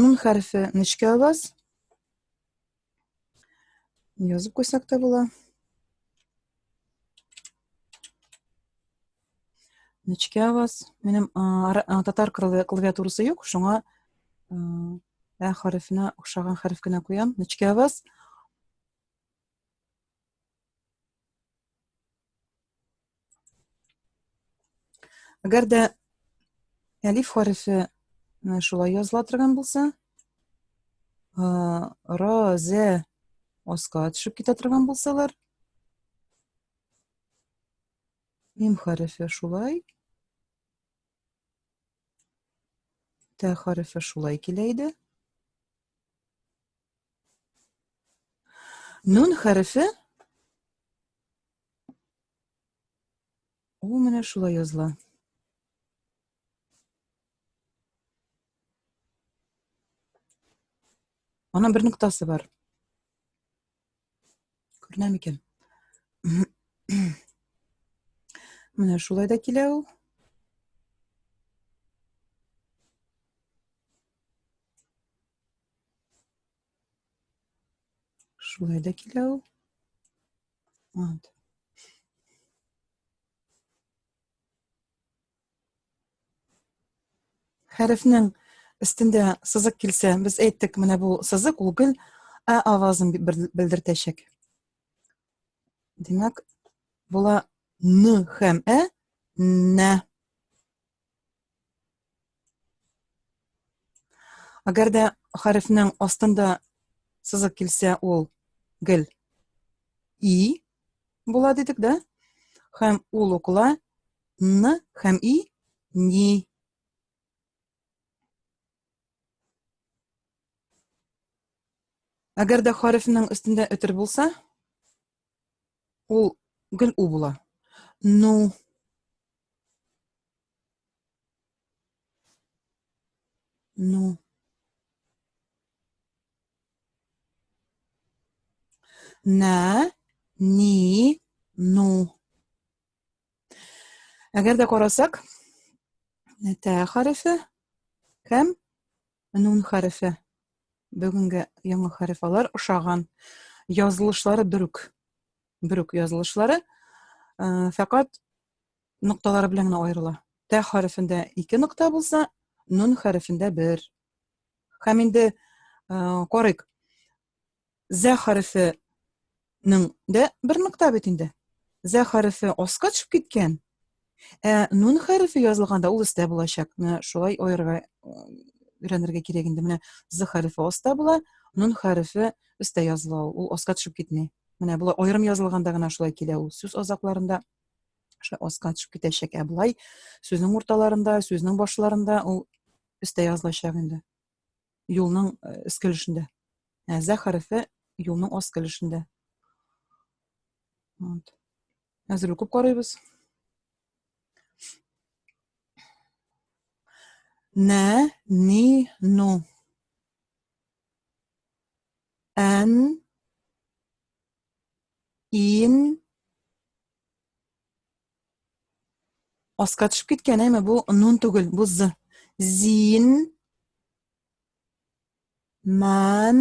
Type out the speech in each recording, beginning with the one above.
Нун хәрфе нечкә аваз. Язып куйсак та була. Нечкә аваз. Минем татар клавиатурасы юк, шуңа ә хәрефенә охшаган хәреф кенә куям. Нечкә аваз. Әгәр дә әлиф хәрефе шулай языла торган булса, ра, зә аска төшеп китә торган булсалар, мим хәрефе шулай, тә хәрефе шулай килә иде. Нун хәрефе Ул менә шулай языла. Аның бер нуктасы бар. Күренә микән? Менә шулай да килә ул. Шулай да килә ул. Вот. Хәрефнең өстендә сызык килсә, без әйттек, менә бу сызык ул гел ә авазын белдертәчәк. Димәк, була н һәм ә нә. Әгәр дә хәрефнең астында сызык килсә, ул гел и була дидек, да? Хәм ул укыла н хәм и ни Әгәр дә хәрефнең өстендә өтер булса, Ул гел у була. Ну. Ну. Нә, ни, ну. Әгәр дә карасак, тә хәрефе һәм Нун хәрефе. Бүгенге яңа хәреф алар ошаган. Язылышлары бөрүк. Бөрүк язылышлары. Э, фәкать нокталары белән генә аерыла. Тә хәрефендә ике нокта булса, нун хәрефендә бер. Һәм инде э, карыйк. Зә хәрефе ның дә бер нокта бит инде. Зә хәрефе аска төшеп киткән. Ә нун хәрефе язылганда ул өстә булачак. Менә шулай аерырга өйрәнергә кирәк инде. Менә з хәрефе аста була, нун хәрефе өстә языла ул. Ул аска төшеп китми. Менә болай аерым язылганда гына шулай килә ул. Сүз азакларында шулай аска төшеп китәчәк. Ә болай сүзнең урталарында, сүзнең башларында ул өстә язылачак инде. юлның өскә өлешендә. Ә зә хәрефе юлның аскы өлешендә. Вот. Әзер укып карыйбыз. Нә, ни, ну. Ән, ин, Аска төшеп киткән, әйме, бу нун түгел, бу з. Зин, мән,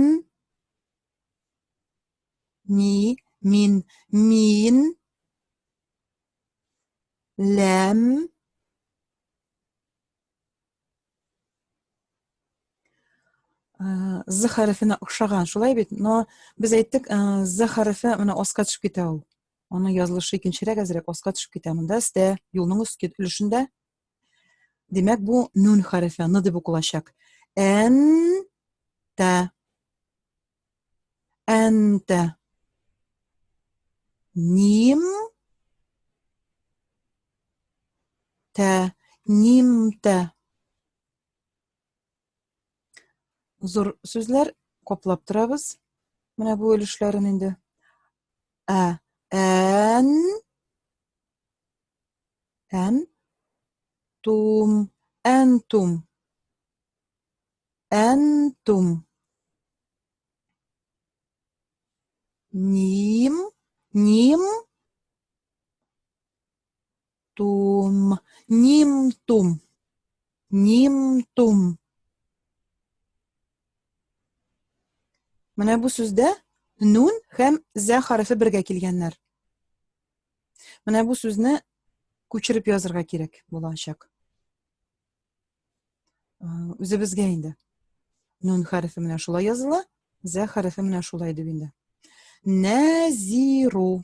ни, мин, мин, ләм, з хәрефенә охшаган, шулай бит, но без әйттек, з хәрефе менә аска төшеп китә ул. Аның язылышы икенчерәк әзрәк аска төшеп китә монда стә юлның өстке өлешендә. Димәк, бу нун хәрефе, ны дип укылачак. Ән та. Ән та. Ним та. Ним та. Зур сүзләр каплап торабыз. Менә бу өлешләрен инде. Ә, ән, ән, тум, әнтум, әнтум. Ним, ним, Тум. Ним тум. Ним тум. Менә бу сүздә нун һәм зә хәрефе бергә килгәннәр. Менә бу сүзне күчереп язырга кирәк булачак. Э, үзебезгә инде. Нун хәрефе менә шулай языла, зә хәрефе менә шулай дип инде. Назиру.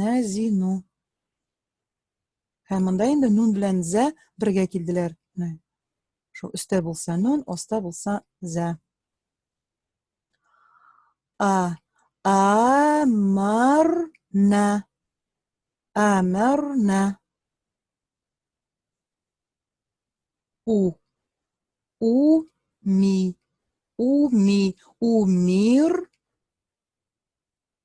Нәзину. Һәм монда инде нун белән зә бергә килделәр. Шул өстә булса нун, аста булса зә. А. Амарна. Амарна. У. У ми. У ми. У мир.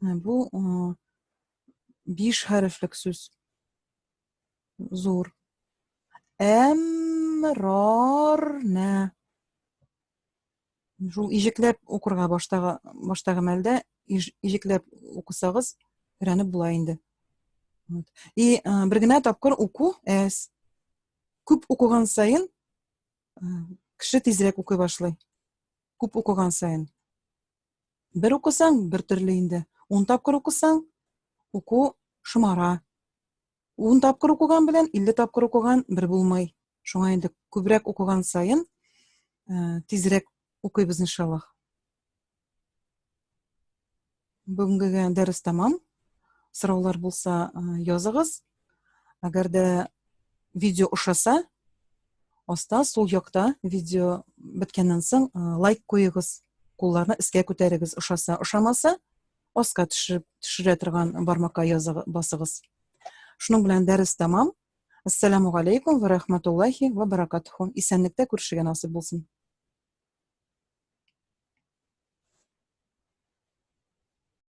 Бу биш хәрефлек сүз. Зур. Әмрарна. Шул ижекләп укырга баштагы баштагы мәлдә ижекләп укысагыз өйрәнеп була инде. Вот. И э, бер генә тапкыр уку әз. Күп укыган саен э, кеше тизрәк укый башлый. Күп укыган саен. Бер укысаң, бер төрле инде. Ун тапкыр укысаң, уку шомара. Ун тапкыр укыган белән 50 тапкыр укыган бер булмый. Шуңа инде күбрәк укыган саен э, тизрәк укыйбыз иншаллах. Бүгенгегә дәрес тәмам. Сораулар булса э, языгыз. Әгәр дә видео ошаса, аста сул якта видео беткәннән соң лайк куегыз, кулларны искә күтәрегез, ошаса, ошамаса, аска төшереп төшерә торган бармакка языгыз, басыгыз. Шуның белән дәрес тәмам. Ассаламу алейкум ва рахматуллахи ва баракатуху. Исәнлектә күрешергә насыйп булсын.